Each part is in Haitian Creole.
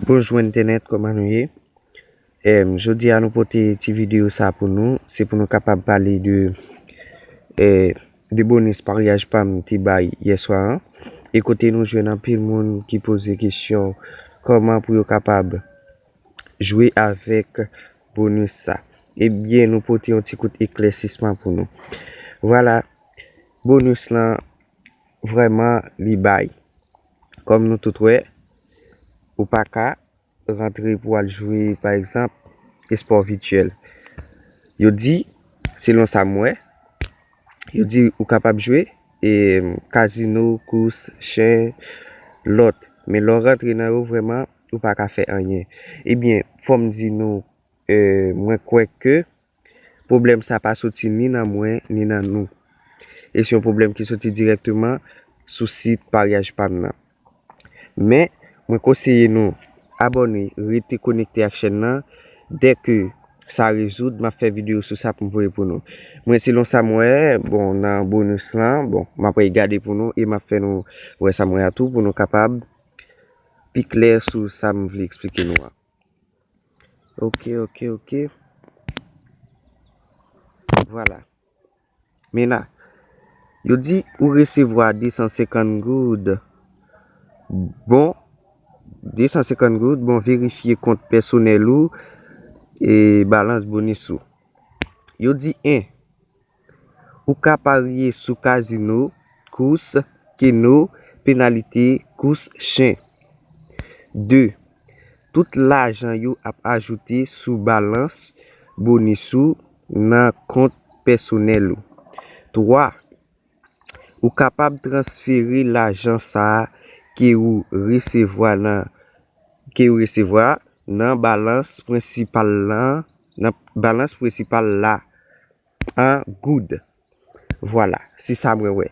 Bonjou entènèt kòman nou ye em jodi a nou pote ti video sa pou nou se pou nou kapab pale de e de bonis paryaj pam te bay yèswa an e kote nou jwenn anpil moun ki poze kesyon kòman pou yo kapab jwe avèk bonis sa ebyen nou pote yon ti kout eklèsisman pou nou vwala bonis lan vrèman li bay Kòm nou tout wè, ou pa ka rantre pou al jwe pa egzanp espò vityèl. Yo di, selon sa m wè, yo di ou kapab jwe kazino, kous, chen, lòt. Men lè w rantre nan yo vrèman ou pa ka fè anyen. Ebyen, fò m di nou, mwen kwè ke Pwoblèm sa pa soti ni nan mwen ni nan nou. E se yon pwoblèm ki soti dirèkteman sou sit paryaj pa m nan. Men, mwen konseye nou abòne, rete konekte ak chèn nan, dè ke sa rezoud, m ap fè videyo sou sa pou m voye pou nou. Mwen selon sa m wè, bon, nan bonus lan, bon, m ap regade pou nou e m ap fè nou wè sa m wè a tou pou nou kapab pi klè sou sa m vle eksplike nou an. Ok ok ok Vwala Men la Yo di ou resevwa 250 goud Bon 250 goud bon verifye kont pèsonèl ou E balans bonis ou Yo di 1. Ou ka parye sou kazino, kous, keno, penalite, kous chen. 2, Tout lajan yo ap ajoute sou balans bonis ou nan kont pèsonèl ou. 3, Ou kapab transfere lajan sa a ke ou resevwa nan ke ou resevwa a nan balans prensipal nan balans prensipal la. an goud. Vwala, se sa mwen wè.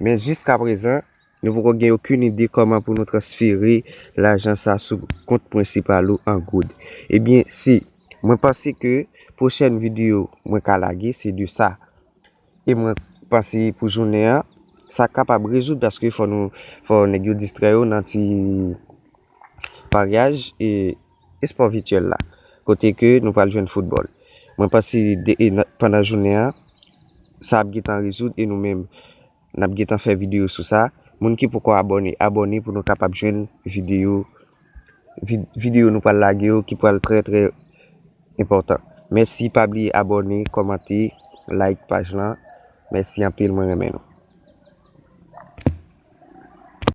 Men jiska prezan, nou poko gen okenn ide kòman pou nou transfere lajan sa a sou kont prensipal ou an goud. Ebyen, se, mwen panse ke pwochèn videyo mwen ka lage se de sa. E mwen panse pou jounen an, sa kapab rezoud paske fò nou, fò nèg yo distrè yo nan ti paryaj e Espò vityèl la, kote ke nou pral jwenn foutbòl. Mwen panse pandan jounen an, sa ap gen tan rezoud e nou menm n ap gen tan fè videyo sou sa. Moun ki poko abòne, abòne pou nou kapab jwenn videyo videyo nou pral lage yo ki pral trè trè enpòtan. Mèsi pa bliye abòne, kòmante, like paj lan. Mèsi anpil mwen renmen nou.